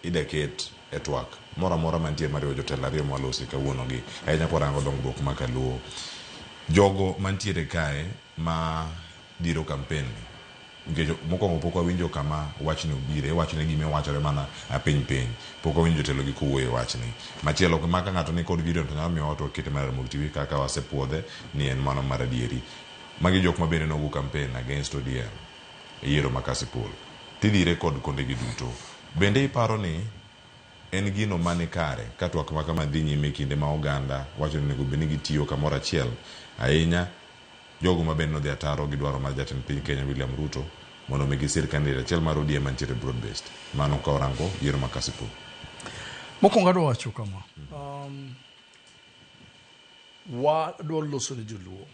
ida ket e twak moro amora mantie mariwo jotelo ariyo mwalosi kawuono gi ahinya kwarango dongruok ma kaluo. Jogo mantiere kae ma dhiro kampen ni nikech mokwongo pok wawinjo kama wachni obire, iwachone gima iwachore mana apiny piny. Pok wawinjo jotelo gi kowuoyo e wachni. Machielo ok ma ka ng'ato ni kod video to nyalo miyo to wakete mana e Ramogi TV kaka wasepuodhe ni en mano maradieri. Magi jok ma bende nogo kampen against ODM. e yiero ma Kasipul, tidhire kod kondegi duto. Bende iparo ni en gino ma ni kare ka twak ma kama dhi nyime e kinde ma oganda wacho ni onego bed ni gitiyo kamoro achiel, ahinya jogo ma bende nodhi ataro gi dwaro mar Jatend piny Kenya William Ruto mondo omigi sir kandidate achiel mar ODM ma nitiere broad based? Mano ka orango yiero ma Kasipul. Mokwongo adwa wacho kama, wadwa loso ne joluo.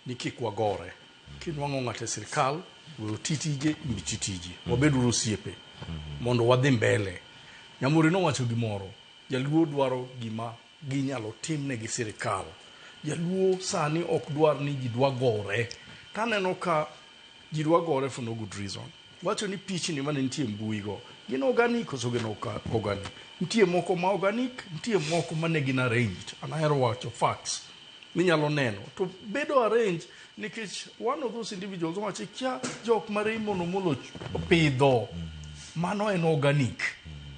ni kik wagore. Kinwang'o ng'ato e sirkal, we oti tije, in ichi tiji. Mm. Wabed uru osiepe mm-hmm. mondo wadhi mbele. Nyamuri nowacho gimoro, jaluo dwaro gima ginyalo timne gi sirkal. Jaluo sani ok dwar ni ji dwa gore. Taneno ka ji dwa gore for no good reason. Wacho ni pichni mane nitie mbui go gin organic koso gin organic. Nitie moko ma organic, nitie moko mane gin arranged. An ahero wacho facts minyalo neno to bedo arranged nikech one of those individuals owacho kia jok ma Raymond Omolo pidho mano en organic.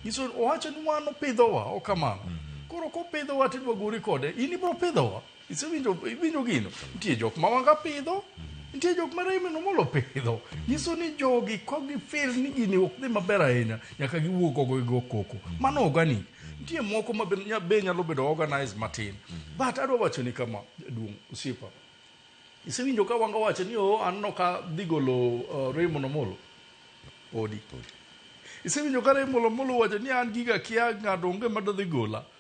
Nyiso owacho ni wan opidhowa okamano. Koro kopidhowa tidwa gori kode in ibro pidhowa. Isewinjo iwinjo gino? Nitie jok ma wanga pidho, nitie jok ma Raymond Omolo pidho. Nyiso ni jogi ka gifil ni gini ok dhi maber ahinya, nyaka giwuog oko gigo koko. Mano organic. Nitie moko ma be nya- be nyalo bedo organized matin. But adwa wacho ni kama, jaduong' osiepa, isewinjo ka wanga wacho ni oh, an no ka dhi golo uh, Raymond Omolo? Podi. Isewinjo ka Raymond Omolo wacho ni an giga kia ng'ato onge madadhi gola?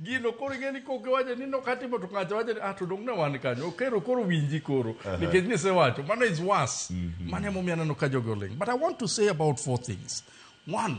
gino koro ing'e ni kok iwacho ni nokatimo to ng'ato wacho ni ah to dong ne wan kanyo okero koro winji koro nikech nisewacho mano is worse mano emomiyo aneno ka jogi oling but i want to say about four things one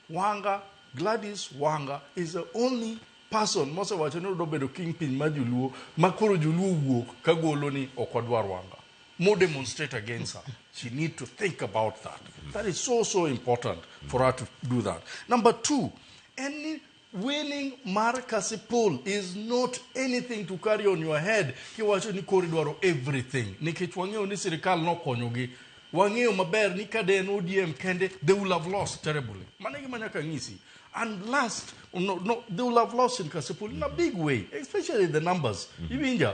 wanga gladys wanga is the only person mosewacho ni odobedo king piny ma joluo ma koro joluo wuok ka golo ni ok odwar wanga mo demonstrate against her she need to think about that that is so so important for her to do that number two en ni Willing mar kasipul is not anything to carry on your head kiwacho ni kori dwaro everything nikech wang'eyo ni sirikal nokonyogi wang'eyo maber ni ka de en odm kende they will have lost terribly mano gima nyaka ng'isi and last no, no, they will have lost in kasipul in a big way especially the numbers iwinja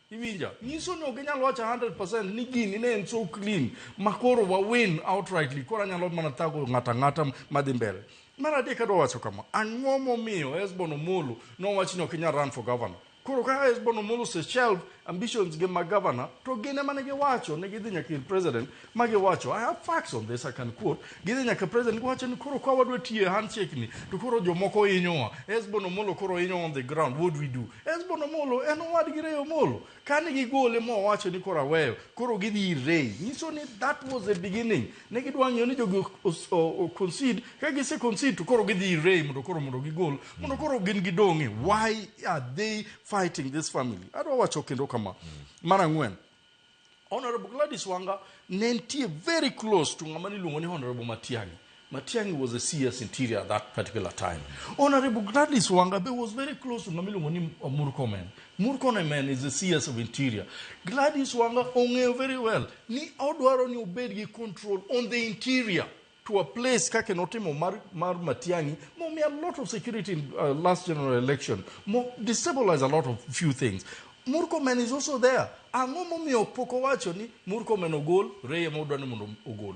Iwinja? Nyiso ni ok inyal wacho 100% ni gini ne en so clean ma koro wa win outrightly koro anyalo mana thago ng'ata ng'ata madhi mbele. Mar adek adwa wacho kama, ang'o momiyo Hesbon Omolo nowach ni ok inyal run for governor? Koro ka Hesbon Omolo ose shelve ambitions ge mag governor to gin ema ne giwacho ni gidhi nyaka ir president ma giwacho i have facts on this i can quote gidhi nyaka president giwacho ni koro kwa wadwa tiye handshake ni to koro jomoko hinyowa esbon omolo koro hinyo on the ground what do we do esbon omolo en owad gi reyo omolo kane gigole ma owacho ni koro aweyo koro gidhi ir rei nyiso ni that was the beginning ne gidwa ng'iyo ni jogi os- o- o- concede ka gise concede to koro gidhi ir rei mondo koro mondo gigol mondo koro gin gidong'e why are they fighting this family adwa wacho kendo kama mar ang'wen Honorable Gladys Wanga ne nitie very close to ng'ama niluongo ni Honorable Matiang'i. Matiang'i was a CS interior at that particular time. Honorable Gladys Wanga be was very close to ng'ama iluongo ni uh, Murkomen. Murkomen is a CS of interior. Gladys Wanga ong'eyo very well ni odwaro ni obed gi control on the interior. to a place kaka notimo mar, mar Matiang'i momi a lot of security in uh, last general election mo destabilize a lot of few things Murkomen is also there ang'o momiyo pok owacho ni Murkomen ogol Reye modwa ni mondo ogol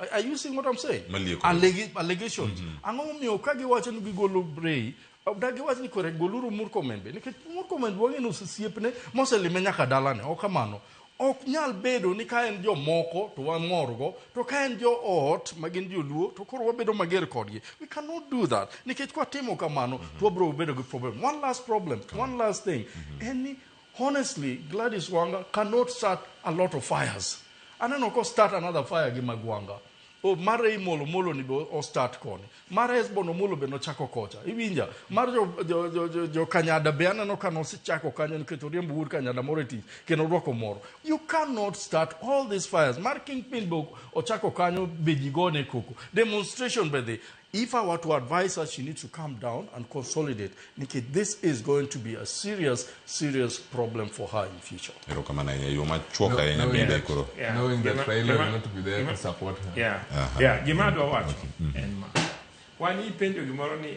Are- are you seeing what I'm saying Malieko. Allegi- allegations ang'o momiyo ka giwacho ni gigolo Reye da giwacho ni kore goluru Murkomen be nikech Murkomen wang'e ni osesiepne moselime nyaka dalane ok kamano Ok nyal bedo ni ka en jomoko to wamorgo, to ka en joot ma gin joluo to koro wabedo mager kodgi. We cannot do that. Nikech kwatimo kamano mm -hmm. to wabiro bedo gi problem. One last problem, one last thing. Mm -hmm. En ni honestly Gladys Wanga cannot start a lot of fires. Aneno ko start another fire gi Magwanga. Oh, mar Raymol Omolo ni be o start koni. Mar Hesbon Omolo be nochako kocha. Iwinja. Mar jo, jo, jo, jo, jo Kanyada be aneno ka nosechako kanyo nikech oriemb wuod Kanyada moro e tich kendo orwako moro. You cannot start all these fires. Mar Kingpin be ochako kanyo be ji gone koko. Demonstration be dhi. If I were to advise her, she needs to calm down and consolidate. Nikki, this is going to be a serious, serious problem for her in future. erokamano ahinya yo machuok No- ahinya no bende index. koro Yeah. Knowing that Gima- Raila gima- will not be there gima- to support her. Yeah. Aha. Yeah, gima adwa wacho en ma. Wan ipenjo gimoro ni